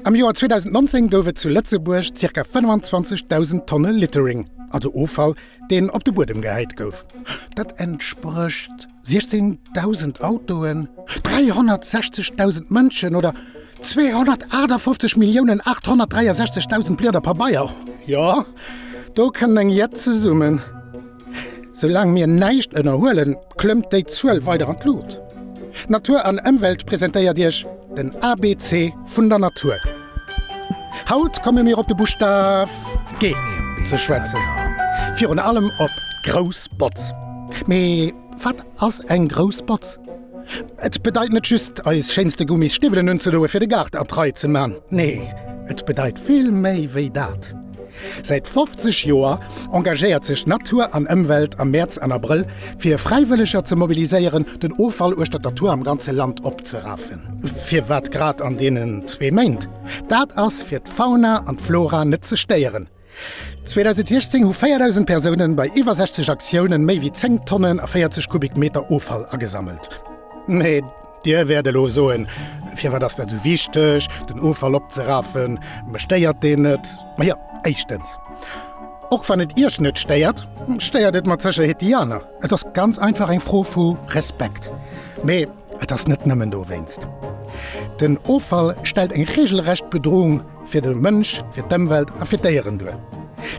Am Joer 2019 gouf et zu Lëtzebuerg ca. 25.000 Tonne Littering, also Offall, deen op de Buedem gehäit gouf. Dat entsprécht 16.000 Autoen, 360.000 Mënschen oder 258.863.000 Blieder Pabeier. Jo, do kënnt eng Jett zesummen. Soulaang mir näischt ënnerhuelen, klëmmt déi Zuel weider an d'Luucht. Natur an Ëmwelt presentéiert Iech den ABC vun der Natur. Haut komme mir op de Buschtaf G ze schwätzen, virun allem op grouss Botz. Mee wat ass eng grouss Botz? Et bedeit net just, eis schéinste Gummis Stiwwelen unzedoe fir de Gaart an d'Rei ze man. Nee, et bedeit vill méi wéi dat. Säit 50 Joer engagéiert sech Natur an Ëmwelt am Mäerz an Abrëll fir Fräiwëlleger ze mobiliséieren, den Offall uechter der Tour am ganze Land opzerafen. Firwat grad an deenen zwee Méint? Dat ass fir d'Fauna an d'Flora net ze stéieren. 2016 hu 4.000 Persounen bei iwwer 60 Aktiounen méi wéi 10 Tonnen a 40 Kubikmeter Offall agesammelt. Dir wäert elo soen, Firwat ass dat esou wichteg, den Offall opzeraffen? Mech stéiert deen net. Ma jo, éischtens, och wann et Iech net stéiert, stéiert et mat Sécherheet déi aner. Et ass ganz einfach eng Fro vu Respekt. Mee et ass net nëmmen dowéinst. Den Offall stellt eng reegelrecht Bedroung Fir de Mënsch, fir d'Ëmwelt a fir d'Déieren duer.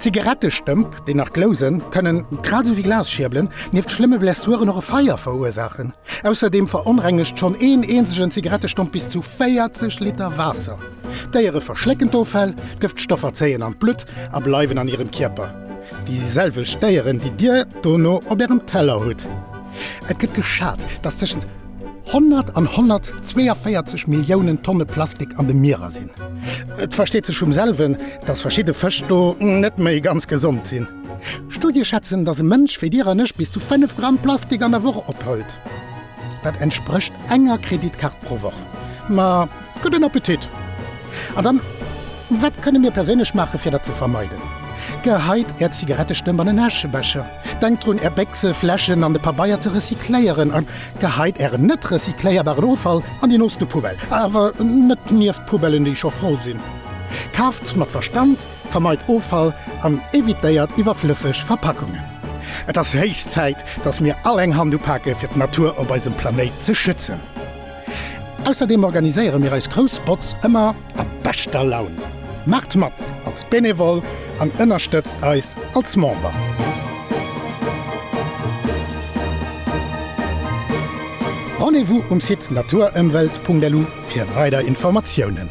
Zigarettestëmp, déi nach glousen, kënnen, grad esou wéi Glasschierbelen, nieft schlëmme Blessuren och e Feier verursaachen. Ausserdeem veronrengegt schonn een eenzegen Zigarettestomp bis zu 40 Liter Waasser. D'Déiere verschlécken d'Offäll, d'Gëftstoffer zéien an d'Blutt a bleiwen an hirem Kierper, déi selwecht Déieren, déi Dir dono op Ärem Teller hutt. Et gëtt geschat, dass tëschent. Honnert an 142 Milliounen Tonne Plastik an de Mierer sinn. Et versteet sech vum selwen, dass verschidde Fësch do net méi ganz gesond sinn. Studie schätzen, dass e Mënsch wéi Dir an ech bis zu 5 Gramm Plastik an der Woch opholt. Dat entsprécht enger Kreditkaart pro Woch. Ma Gudden Appetit! An dann, wat kënne mir perséinlech maachen, fir dat ze vermeiden? Geheit Är Zigarettestëmp an en Äschebecher, denkt drun, Är Béchse, Fläschen an de Pabeier ze recycléieren a geheit Ären net recycléierbaren Offall an déi nooste Poubelle, awer net nieft d'Poubellen, déi scho voll sinn. Kaaft mat Verstand, vermeit Offall an evitéiert iwwerflësseg Verpackungen. Et ass héich Zäit, dass mir all eng Hand upake fir d'Natur op eisem Planéit ze schützen. Ausserdeem organiséiere mir eis grouss Botz ëmmer a beschter Laun. Maacht mat als Benevole an ënnerstëtzt eis als Member! Rendez-vous um Site naturëmwelt.lu fir weider Informatiounen.